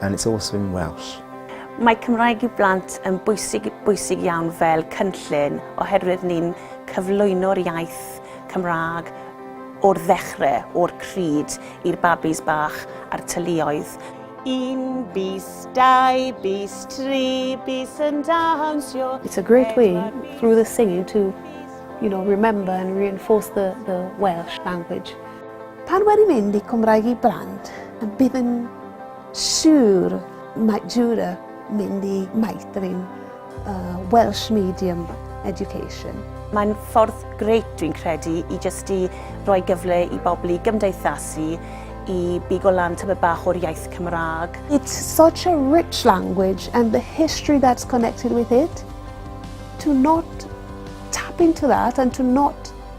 And it's also in Welsh. Mae Cymraeg i Blant yn bwysig, bwysig iawn fel cynllun oherwydd ni'n cyflwyno'r iaith Cymraeg o'r ddechrau, o'r pryd, i'r babis bach a'r teuluoedd. Un bis, dau bis, tri bis yn dawnsio. It's a great way through the singing to, you know, remember and reinforce the, the Welsh language. Pan wedi mynd i Cymraeg i Blant, bydd yn siwr mae Jura mynd i meithrin uh, Welsh Medium Education. Mae'n ffordd greit, dwi'n credu, i jyst i roi gyfle i bobl i gymdeithasu, i bigo lan tyma bach o'r iaith Cymraeg. It's such a rich language and the history that's connected with it. To not tap into that and to not